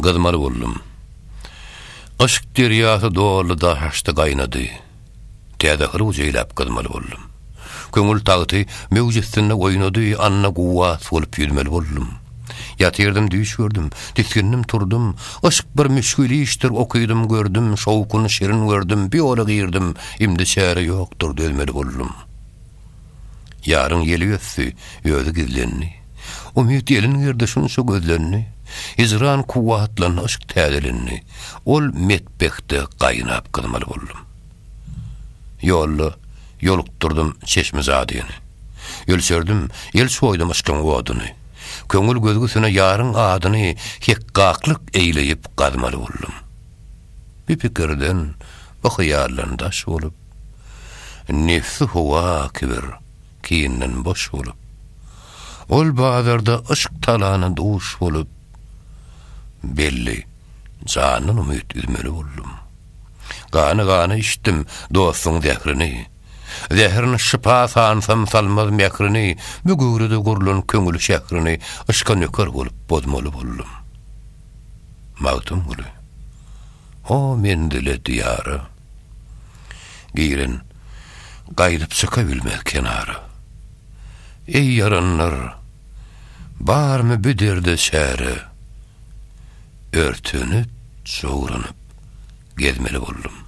Gyzmaly boldum. Yşk derýasy doldy daşaşdy gaýnady. Täze hyruw jeýlap gyzmaly boldum. Köňül tagty möwj üstünde oýnady, anna guwwat bolup ýüzmeli boldum. Ýatyrdym düýş gördüm, tisgindim turdum, yşk bir müşgil işdir okydym gördüm, şowkuny şirin gördüm, biýola girdim, imdi çäre ýokdur dözmeli boldum. Ýaryň ýeli ösdi, özi gizlendi. Umyt ýelin girdi şunça gözlendi. Hijran kuwwatlandy, yşk täzelendi. Ol metbehde gaýnap gyzmaly boldum. Ýolda ýolukdyrdym çeşmi jadyny. Ölçerdim, el çoýdum yşkyň oduny. Köňül gözgüsine ýaryň adyny hekgaklyk eýleýip gazmaly boldum. Bi pikirden, bi hyýaldan daş bolup. Nebsi howa kibir, kinden boş bolup, Ol bazarda yşk talana duş bolup, Belli, jandan umyt üzmeli boldum. Gany-gany içdim dostuň zährini, Zährin şypa sansam salmaz mährini, Bu göwrede gurlan köňül şährini Yşka nöker bolup bozmaly boldum. Magtymguly, O menzile, diýara. Giren, gaýdyp çykabilmez kenara. Eý ýaranlar, barmy bu derde çäre? Örtenip, jowranyp gezmeli boldum.